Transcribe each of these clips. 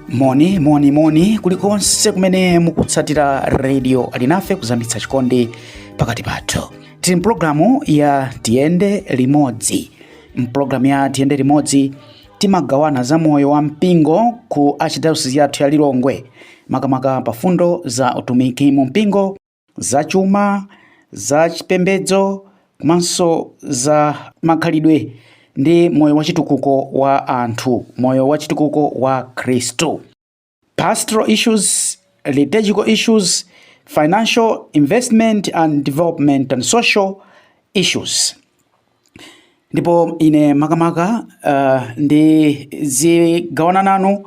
moni moni moni kulikonse kumene mukutsatira radio alinafe kuzamitsa chikondi pakati pathu tili mpulogalamu ya tiyende limodzi mpulogalamu ya tiyende limodzi Timagawana za moyo wa mpingo ku Archdiocese yathu ya Lilongwe, makamaka pa mfundo za utumiki mu mpingo, za chuma, za chipembedzo komanso za makhalidwe ndi moyo wachitukuko wa anthu, moyo wachitukuko wa Akhristu. pastoral issues, liturgical issues, financial investment and development and social issues ndipo ine makamaka uh, ndizigawana nanu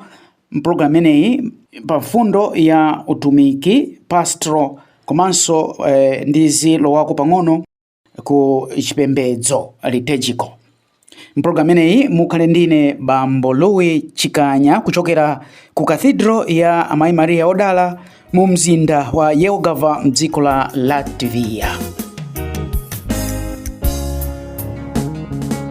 mpulogalamu imeneyi pa mfundo ya utumiki pastoral komanso eh, ndizilowako pang'ono ku chipembedzo liturgical mpulogalamu imeneyi mukhala ndi ine bambo louis chikanya kuchokera ku cathedral ya amayi maria odala mu mzinda wa jelgava mdziko la latvia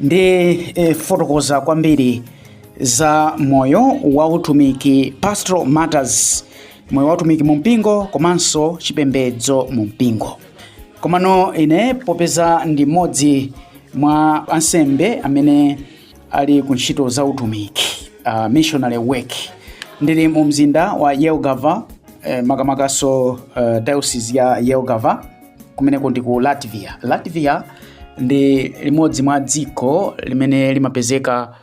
ndifotokoza kwambiri za moyo wa utumiki pastoral matters moyo wa utumiki mu mpingo komanso chipembedzo mu mpingo komano ine popeza ndi mmodzi mwa ansembe amene ali ku ntchito za utumiki uh, missionary work ndili mu mzinda wa jelgava eh, makamakaso uh, diocese ya jelgava kumeneko ndi ku latvia latvia ndi limodzi mwa dziko limene limapezeka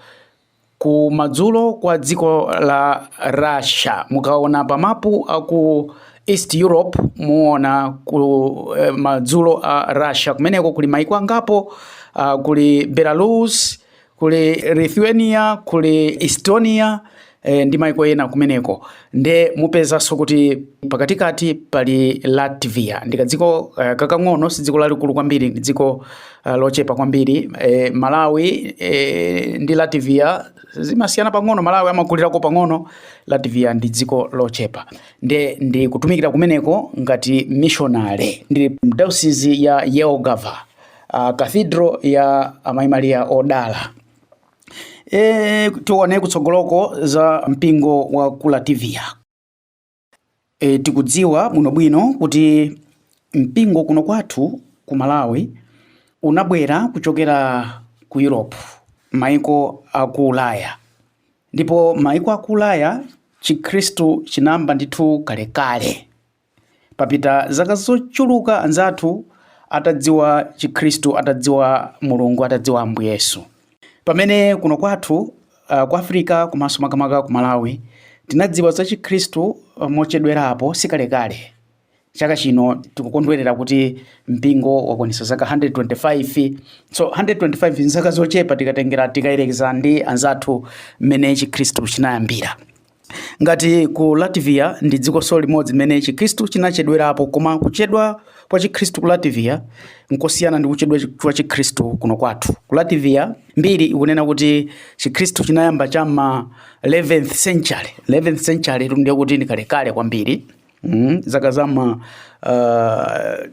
ku madzulo kwa dziko la russia mukaona pa mapu aku east europe muona ku eh, madzulo a russia kumeneko kuli maiko angapo uh, kuli belarus kuli lithuania kuli estonia e, ndi maiko ena kumeneko nde mupezanso kuti pakatikati pali latvia ndi kadziko uh, kakang'ono si dziko lalikulu kwambiri ndi dziko uh, lochepa kwambiri e, malawi e, ndi latvia zimasiyana pang'ono malawi amakulirako pang'ono latvia ndi dziko lochepa nde ndikutumikira kumeneko ngati mishonale ndili mdayosizi ya jelgava uh, Cathedral ya Amayi Maria Odala. E, tione kutsogoloko za mpingo wa ku Latvia. E, tikudziwa bwinobwino kuti mpingo kuno kwathu ku Malawi unabwera kuchokera ku Europe, maiko a ku Ulaya. Ndipo maiko a ku Ulaya Chikhristu chinayamba ndithu kalekale. Papita zaka zochuluka anzathu atadziwa chikhristu, atadziwa Mulungu, atadziwa Ambuye Yesu. Pamene kuno kwathu uh, ku Africa komanso makamaka ku Malawi tinadziwa za chikhristu uh, mochedwerapo sikalekale. Chaka chino tikukondwerera kuti mpingo wakwanitsa zaka 125. So 125 nzaka zochepa tikatengera tikayerekeza ndi anzathu mmene chikhristu chinayambira. Ngati ku Latvia ndi dzikonso limodzi limene Chikristu chinachedwerapo, koma kuchedwa kwa Chikristu ku Latvia nkosiyana ndi kuchedwa chi- kwa Chikristu kuno kwathu. Ku Latvia mbiri ikunena kuti Chikristu chinayamba cha m'ma 11th century. 11th century tu ndiye kuti ndi kalekale kwambiri. Mm, zaka za ma uh,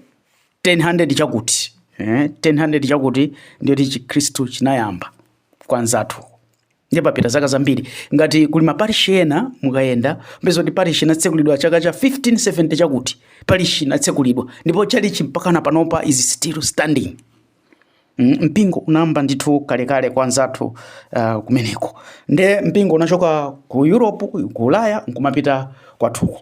1000 chakuti eh, 1000 chakuti ndiye kuti Chikristu chinayamba kwa anzathu ndiye papita zaka zambiri ngati kuli maparishi ena mukayenda mpeza kuti parishi inatsekulidwa chaka cha 1570 chakuti parishi inatsekulidwa ndipo chalichi mpakana panopa is still standing mm, mpingo unayamba ndithu kalekale kwa anzathu uh, kumeneko nde mpingo unachoka ku europe ku ulaya nkumapita kwathuko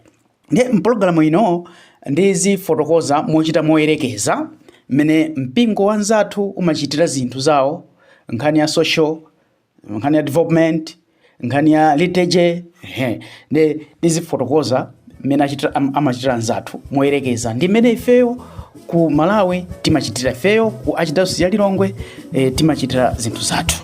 nde mpologalamu ino ndizifotokoza mochita moyerekeza mmene mpingo wa anzathu umachitira zinthu zawo nkhani ya social nkhani ya development nkhani ya liturgy ehe, ndizifotokoza mmene achitira- am- amachitira anzathu moyerekeza ndi mmene ifeyo ku malawi timachitira ifeyo ku archdiocese ya lilongwe eh, timachitira zinthu zathu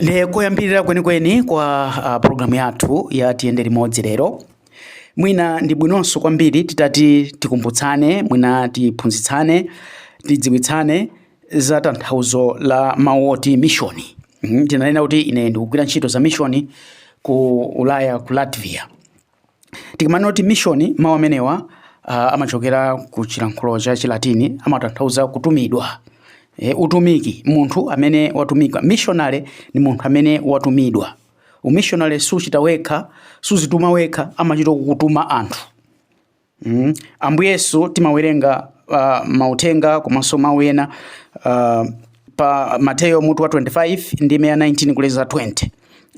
ndi koyambirira kwenikweni kwa uh, programu yathu ya tiyende limodzi lero mwina ndi bwinonso kwambiri titati tikumbutsane mwina tiphunzitsane tidziwitsane za tanthauzo la mawu oti mishoni. Mhm, Ndinanena kuti ine ndikugwira ntchito za mishoni ku Ulaya ku Latvia. Tikamanena kuti mishoni mawu amenewa uh, amachokera ku chilankhulo cha Chilatini amatanthauza kutumidwa. E, utumiki munthu amene watumidwa. Mishonale ni munthu amene watumidwa. Umishonale suchita wekha, suzituma wekha, amachita kukutuma anthu. Mm. Ambuye Yesu timawerenga uh, mauthenga komanso mawu ena uh, pa Mateyo mutu wa 25 ndime ya 19 kulekeza 20.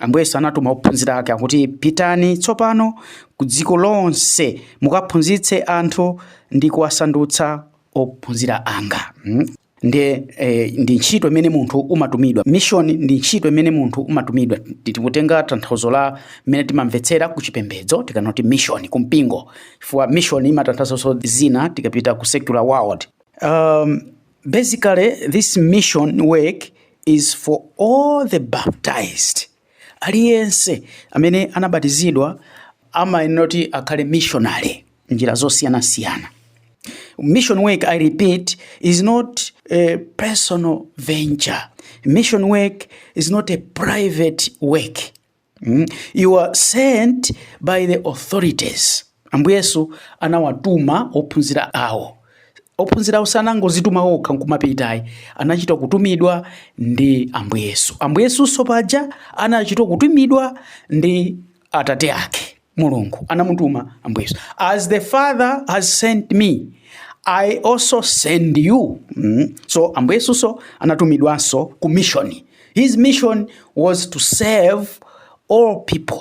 Ambuye Yesu anatuma ophunzira ake akuti pitani tsopano ku dziko lonse mukaphunzitse anthu ndi kuwasandutsa ophunzira anga. Mm. ndiye eh, ndi ntchito imene munthu umatumidwa mission ndi ntchito imene munthu umatumidwa Ti- tikutenga tanthauzo la mmene timamvetsera ku chipembedzo tikanena kuti mission ku mpingo chifukwa mission imatanthauzanso zina tikapita ku secular world um, basically this mission work is for all the baptized Aliyense amene anabatizidwa amayenera kuti akhale missionary njira zosiyanasiyana. Mission work, I repeat, is not a personal venture. Mission work is not a private work. Mm? You are sent by the authorities. Ambuye Yesu anawatuma ophunzira awo. Ophunzirawo sanangozituma okha nkumapita ayi, anachita kutumidwa ndi Ambuye Yesu. Ambuye Yesunso paja anachita kutumidwa ndi Atate ake Mulungu, anamutuma Ambuye Yesu. As the Father has sent me, I also send you. Mm. So Ambuye Yesunso anatumidwanso ku mission. His mission was to save all people.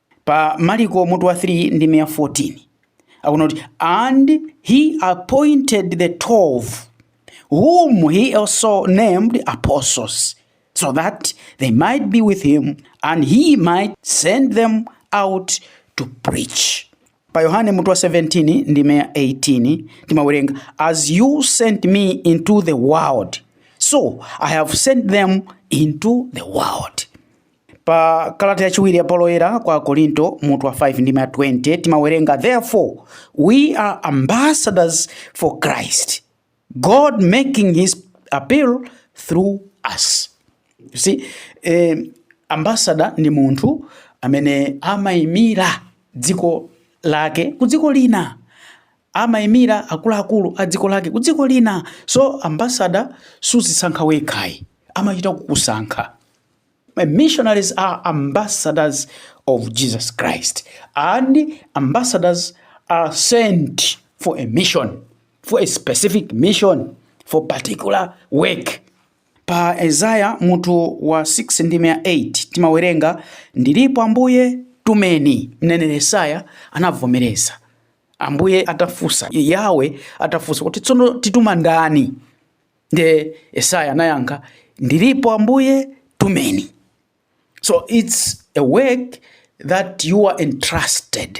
Pa Maliko mutu wa 3 ndime ya 14 akunena kuti and he appointed the 12 whom he also named apostles so that they might be with him and he might send them out to preach pa yohane mutu wa 17 ndime ya 18 timawerenga as you sent me into the world so i have sent them into the world Pa kalata yachiwiri ya Paulo Woyera kwa Akorinto mutu wa 5 ndime ya 20 timawerenga therefore we are ambassadors for Christ God making his appeal through us. You see, eh, ambassador ni munthu amene amaimira dziko lake ku dziko lina amaimira akuluakulu a dziko lake ku dziko lina so ambassador suzisankha wekhayi amachita kukusankha Missionaries are ambassadors of Jesus Christ, and ambassadors are sent for a mission, for a specific mission, for particular work. Pa Yesaya mutu wa 6 ndime ya 8 timawerenga ndilipo Ambuye tumeni. Mneneri Yesaya anavomereza Ambuye atafunsa, Yawe atafunsa kuti tsono tituma ndani? Ndiye Yesaya anayankha, ndilipo Ambuye, tumeni. So it's a work that you are entrusted.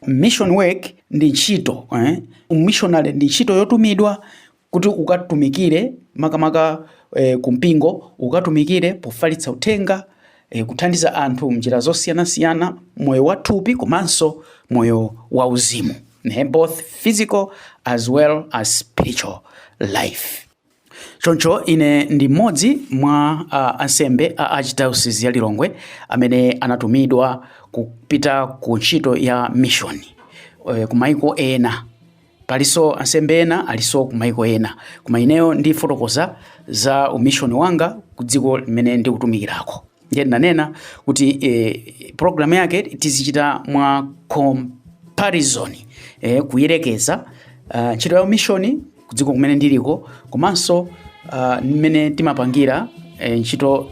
Mission work ndi ntchito eh? Missionary ndi ntchito yotumidwa kuti ukatumikire makamaka eh, kumpingo ukatumikire pofalitsa uthenga e, kuthandiza anthu mnjira zosiyanasiyana moyo wa thupi komanso moyo wa uzimu ne, both physical as well as spiritual life choncho ine ndi mmodzi mwa uh, ansembe a archdiocese ya lilongwe amene anatumidwa kupita ku ntchito ya mishoni e, kumaiko ena Palinso ansembe ena alinso ku maiko ena, koma ineyo ndifotokoza za umishoni wanga ku dziko limene ndikutumikirako. Ndiye ndinanena kuti e, programu yake tizichita mwa comparison e, kuyerekeza ah, ntchito ya umishoni ku dziko kumene ndiliko komanso ah, mmene timapangira eh, ntchito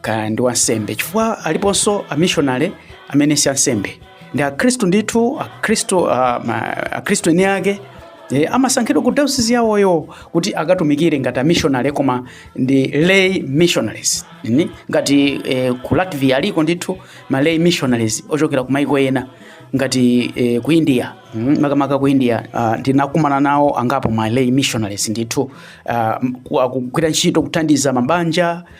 kaya ndi wansembe chifukwa aliponso amishonale amene si ansembe ndi akhristu ndithu akhristu ah, ma- akhristu eni ake e, amasankhidwa ku dayosizi yawoyo kuti akatumikire ngati amishonale koma ndi lay missionaries Ni? ngati e, ku latvia aliko ndithu ma lay missionaries ochokera ku maiko ena ngati e, ku india mm, makamaka ku india ah, ndinakumana nawo angapo ma lay missionaries ndithu ah, m- ku- akugwira ntchito kuthandiza mabanja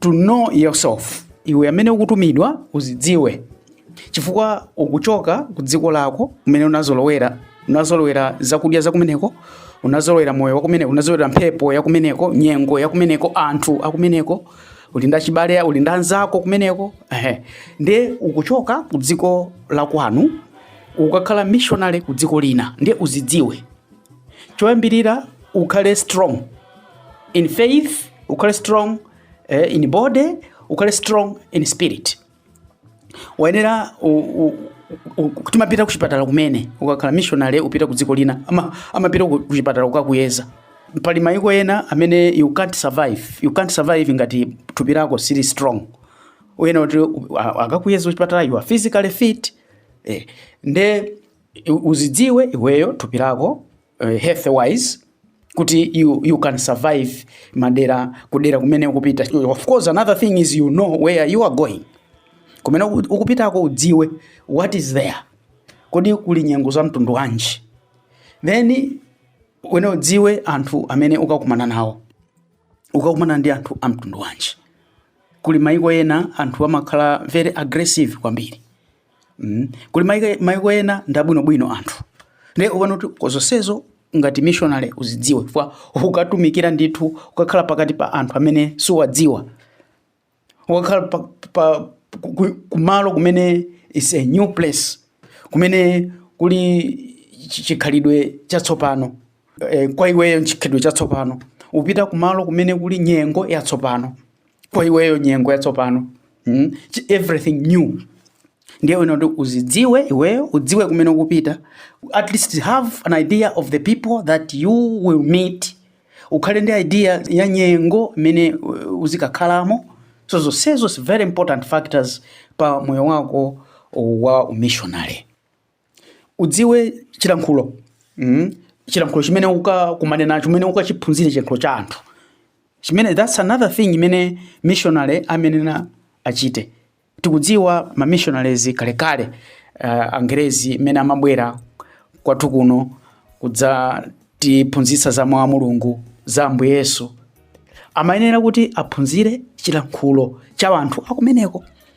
to know yourself iwe amene ukutumidwa uzidziwe chifukwa ukuchoka ku dziko lako kumene unazolowera unazolowera zakudya zakumeneko unazolowera moyo wakumeneko unazolowera mphepo yakumeneko nyengo yakumeneko anthu akumeneko uli ndi achibale uli ndi anzako kumeneko ehe ndiye ukuchoka ku dziko lakwanu ukakhala missionary ku dziko lina ndiye uzidziwe choyambirira ukhale strong in faith ukhale strong eh, in body ukhale strong in spirit wayenera u- u- u- u- timapita kuchipatala kumene ukakhala missionary upita ku dziko lina ama- amapita ku- kuchipatala kukakuyeza pali maiko ena amene you can't survive you can't survive ngati thupi lako sili strong uyena kuti u- a- akakuyeza kuchipatala you are physically fit eh, nde u- uzidziwe iweyo thupi lako uh, health wise kuti you, you can survive madera kudera kumene ukupita of course another thing is you know where you are going kumene uku- ukupitako udziwe what is there kodi kuli nyengo za mtundu wanji then wina udziwe anthu amene ukakumana nawo ukakumana ndi anthu a mtundu wanji kuli maiko ena anthu amakhala very aggressive kwambiri mm. kuli maiko ena ndabwinobwino anthu ndiye uona kuti zonsezo ngati missionary uzidziwe chifukwa ukatumikira ndithu ukakhala pakati pa anthu amene siwadziwa ukakhala pa, pa, kumalo kumene is a new place kumene kuli chikhalidwe chatsopano e, kwa iweyo chikhalidwe chatsopano upita kumalo kumene kuli nyengo yatsopano kwa iweyo nyengo yatsopano mm? everything new ndiye uona kuti uzidziwe iweyo udziwe kumene ukupita at least have an idea of the people that you will meet ukhale ndi idea ya nyengo imene uh, uzikakhalamo so zonsezo is very important factors pa moyo wako wa umishonary udziwe chilankhulo mm? chilankhulo chimene ukakumane nacho chimene ukachiphunzire chilankhulo cha anthu chimene that's another thing imene missionary amayenera achite tikudziwa ma missionaries kalekale uh, angerezi amene amabwera kwathu kuno kudzatiphunzitsa za mawu a mulungu za ambuye yesu amayenera kuti aphunzire chilankhulo cha anthu akumeneko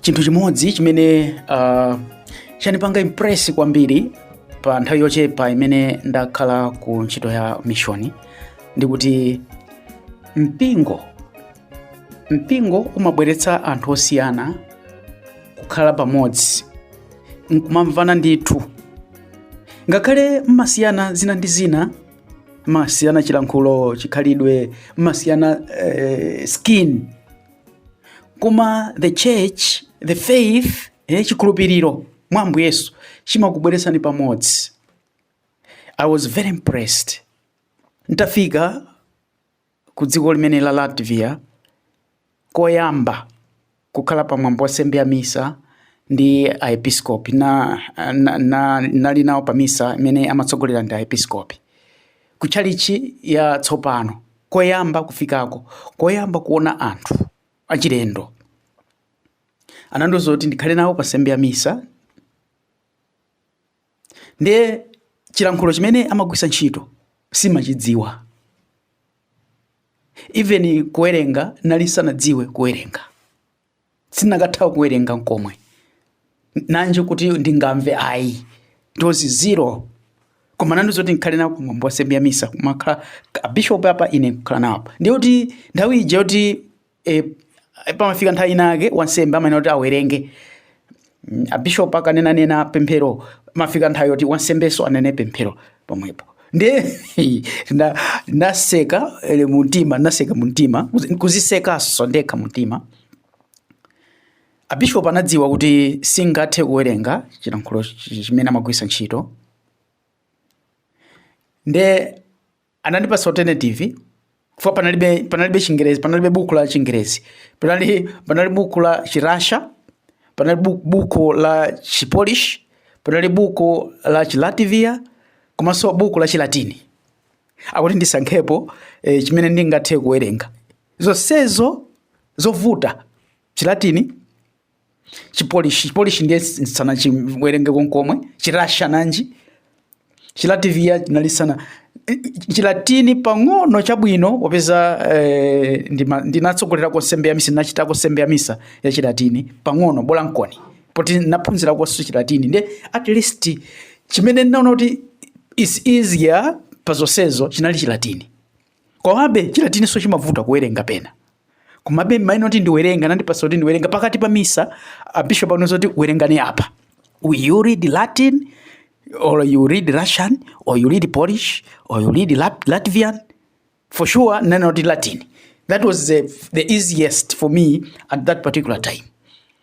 chinthu chimodzi chimene uh, chanipanga impress kwambiri pa nthawi yochepa imene ndakhala ku ntchito ya mishoni ndi kuti mpingo mpingo umabweretsa anthu osiyana kukhala pamodzi nkumamvana ndithu ngakhale mmasiyana zina ndi zina mmasiyana chilankhulo chikhalidwe mmasiyana eh, skin koma the church the faith eh, chikhulupiriro mwa ambuye yesu chimakubweretsani pamodzi i was very impressed ntafika ku dziko limene la latvia koyamba kukhala pa mwambo wa nsembe ya misa ndi aepiskopi na, na, na, nali nawo pa misa imene amatsogolera ndi aepiskopi ku tchalitchi ya tsopano koyamba kufikako koyamba kuona anthu achilendo anandiuza kuti ndikhale nawo pa nsembe ya misa ndiye chilankhulo chimene amagwisa ntchito simachidziwa even kuwerenga nali sanadziwe kuwerenga sindinakatha kuwerenga nkomwe nanje kuti ndingamve ayi it was zero koma anandiuza kuti ndikhale nawo kumwambo wa nsembe ya misa kumakhala abishopu apa ine kukhala nawo apa ndiye kuti nthawi ija yoti eh, pamafika nthawi ina yake wansembe amanena kuti awerenge Mm, abishop akanena nena pemphero amafika nthawi yoti wansembeso anene pemphero pomwepo ndi na, naseka muntima naseka muntima kuzi- kuzisekaso ndekha muntima abishop anadziwa kuti singathe kuwerenga chilankhulo chi- chimene amagwirisa ntchito nde anandipasa alternative chifukwa panalibe panalibe chingerezi panalibe buku la chingerezi panali panali buku la chirasha panali bu- buku la chipolish panali buku la chilativia komanso buku la chilatini akuti ndisankhepo e, chimene ndingathe kuwerenga zonsezo zovuta chilatini chipolish chipolish ndiye sana chiwerenge konkomwe chirasha nanji chilativia chinali sana chilatini pang'ono chabwino popeza eh, ndinatsogolera nsembe ya misa ndinachitako nsembe ya misa ya chilatini pang'ono bola nkoni poti naphunzira konso chilatini ndiye at least chimene ndinaona kuti is easier pa zonsezo chinali chilatini Komabe Chilatininso chimavuta kuwerenga pena. Komabe maina oti ndiwerenga anandipatsa kuti ndiwerenga pakati pa misa abishopu anandiuza kuti werengani apa. Will you read Latin or you read Russian or you read Polish or you read Lat- Latvian? For sure nanena kuti Latin. That was the, the easiest for me at that particular time.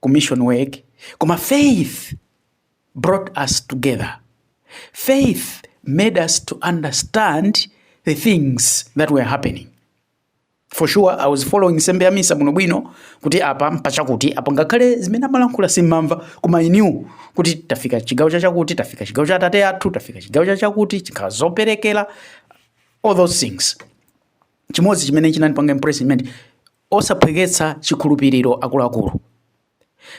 ku mission work koma faith brought us together faith made us to understand the things that were happening for sure i was following nsembe ya misa bwinobwino kuti apa mpachakuti apa ngakhale zimene amalankhula simmamva koma i knew kuti tafika chigawo chachakuti tafika chigawo cha atate athu tafika chigawo chachakuti chingakhale zoperekera all those things chimodzi chimene chinandipanga impress nchimene osaphweketsa chikhulupiriro akuluakulu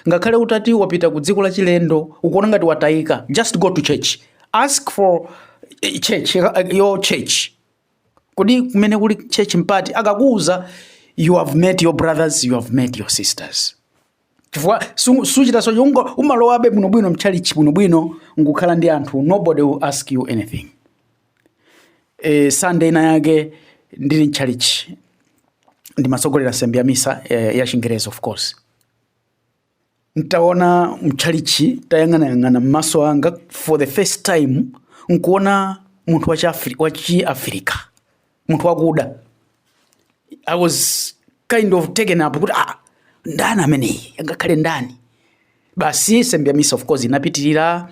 ngakhale utati wapita ku dziko lachilendo ukuona ngati wataika just go to church ask for eh, church eh, your church kodi kumene kuli church mpati akakuuza you have met your brothers you have met your sisters chifukwa suchita so chungo umalowabe bwinobwino mchalichi bwinobwino nkukhala ndi anthu nobody will ask you anything e, Sunday ina yake ndili mtchalichi ndimatsogolera nsembe ya misa eh, ya chingerezi of course ntaona mtchalichi tayang'anayang'ana mmaso anga for the first time nkuona munthu wachiafrika munthu wakuda i was kind of taken up kuti ah, ndani ameneyi angakhale ndani basi nsembe ya misa of course inapitirira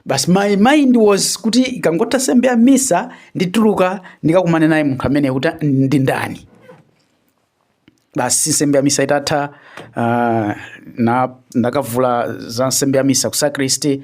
basi my mind was kuti ikangotha nsembe ya misa ndituluka ndikakumane naye munthu ameneyi kuti ndi ndani basi nsembe ya misa itatha uh, na ndakavula za nsembe ya misa ku sakristi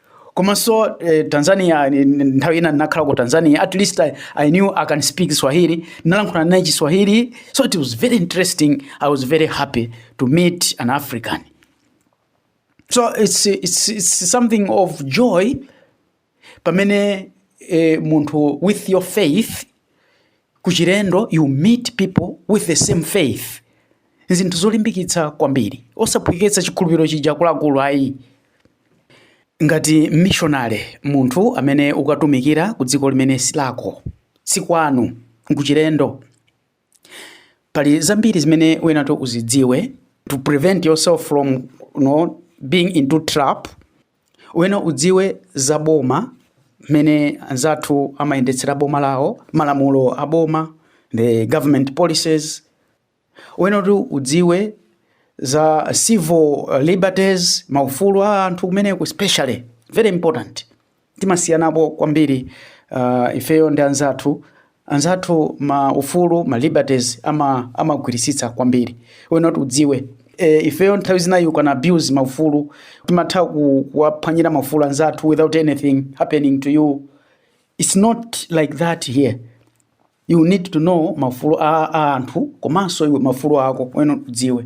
komanso eh, Tanzania eh, nthawi ina ndinakhala ku Tanzania at least I, I knew I can speak Swahili ndinalankhula naye Chiswahili so it was very interesting I was very happy to meet an African so it's, it's, it's something of joy pamene eh, munthu with your faith Kuchilendo you meet people with the same faith nzinthu zolimbikitsa kwambiri osaphweketsa chikhulupiriro chija akuluakulu ayi ngati mmishonale munthu amene ukatumikira ku dziko limene silako sikwanu nkuchilendo pali zambiri zimene uyenera kuti uzidziwe to prevent yourself from you know, being into trap Uyenera udziwe za boma mmene anzathu amayendetsera boma lawo, malamulo a boma, the government policies. Uyenera kuti udziwe za civil liberties, maufulu a anthu kumeneko especially very important. Timasiyanapo kwambiri uh, ifeyo ndi anzathu anzathu maufulu ma liberties ama amagwirisitsa kwambiri uyenera kuti udziwe e, ifeyo nthawi zina you can abuse maufulu timatha kuwaphwanyira maufulu anzathu without anything happening to you it's not like that here you need to know maufulu a, a anthu komanso iwe maufulu ako uyenera kuti udziwe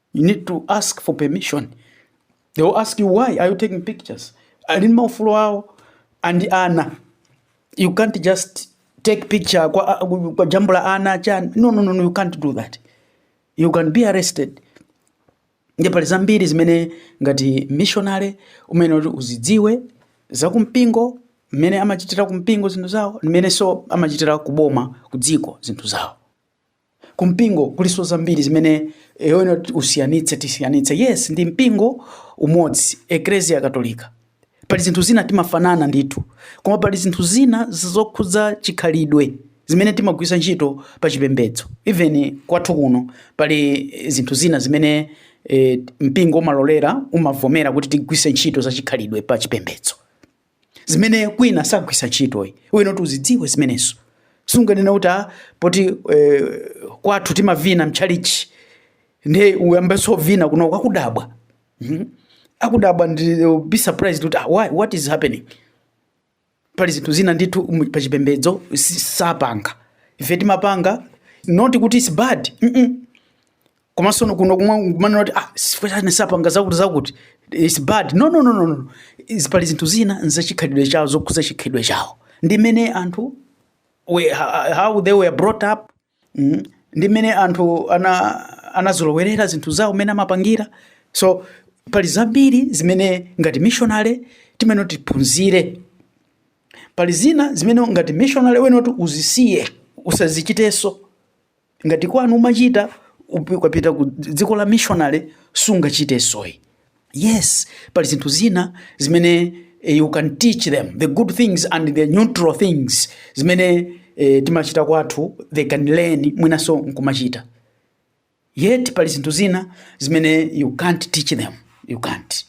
you need to ask for permission they will ask you why are you taking pictures ali ndi maufulu awo ndi ana you can't just take picture kwa, kuwajambula ana chani no, no, no, no, you can't do that you can be arrested ndi pali zambiri zimene ngati missionary uyenera kuti uzidziwe za kumpingo mmene amachitira kumpingo zinthu zawo mmenenso amachitira kuboma kudziko zinthu zawo Ku mpingo kulinso zambiri zimene eh, uyenera kuti usiyanitse tisiyanitse yes ndi mpingo umodzi eklesia katolika pali zinthu zina timafanana ndithu koma pali zinthu zina zokhudza chikhalidwe zimene timagwisa ntchito pa chipembedzo even kwathu kuno pali eh, zinthu zina zimene eh, mpingo umalolera umavomera kuti tigwise ntchito za chikhalidwe pa chipembedzo zimene kwina sagwisa ntchito iwe uyenera kuti uzidziwe zimenezo sunganena kuti a poti eh, kwathu timavina mtchalitchi nde uyambenso kuvina kunoko akudabwa Mhm. akudabwa they'll be surprised kuti ah, why, what is happening pali zinthu zina ndithu mu- pa chipembedzo si- sapanga ife timapanga not kuti it's bad mm -mm. komanso no- kuno kumwa kumanena kuti ah chifukwa chani sapanga zakuti zakuti its bad no no no no no Izi pali zinthu zina nzachikhalidwe chawo zokhuza chikhalidwe chawo ndi mmene anthu we, ha- how they were brought up mm, ndi mmene anthu ana anazolowerera zinthu zawo mmene amapangira so pali zambiri zimene ngati missionary timene tiphunzire pali zina zimene ngati missionary uyenera uzisiye usazichitenso ngati kwanu umachita upi- ukapita ku dziko la missionary sungachitensoyi yes pali zinthu zina zimene eh, you can teach them the good things and the neutral things zimene eh, timachita kwathu they can learn mwinanso nkumachita yet pali zinthu zina zimene you can't teach them you can't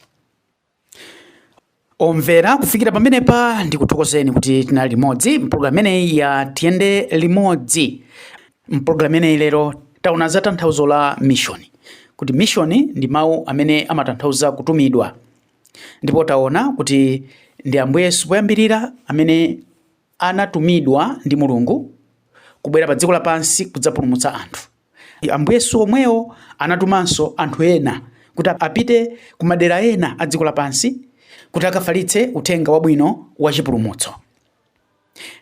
omvera kufikira pamenepa ndikuthokozeni kuti tinali limodzi mpulogalamu imeneyi ya tiyende limodzi mpulogalamu imeneyi lero taona za tanthauzo la mishoni kuti mishoni ndi mawu amene amatanthauza kutumidwa ndipo taona kuti ndi ambuye yesu poyambirira amene Anatumidwa ndi Mulungu kubwera pa dziko lapansi kudzapulumutsa anthu. Ambuye Yesu omwewo anatumanso anthu ena kuti apite ku madera ena a dziko lapansi kuti akafalitse uthenga wabwino wa chipulumutso.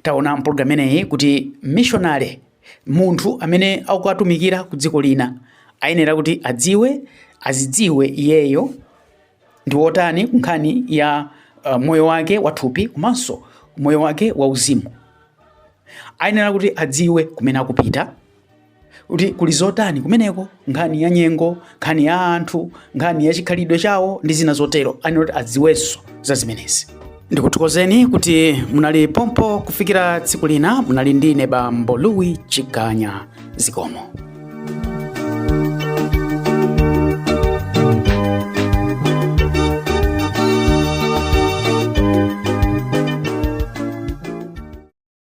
Taona mpologalamu imeneyi kuti mmishonale, munthu amene akukatumikira ku dziko lina, ayenera kuti adziwe, azidziwe iyeyo, ndi wotani ku nkhani ya uh, moyo wake wathupi komanso moyo wake wauzimu ayenera kuti adziwe kumene akupita kuti kuli zotani kumeneko nkhani ya nyengo nkhani ya anthu nkhani ya chikhalidwe chawo ndi zina zotero ayenera kuti adziwenso za zimenezi ndikuthokozeni kuti munali pompo kufikira tsiku lina munali ndi ine bambo louis chikanya zikomo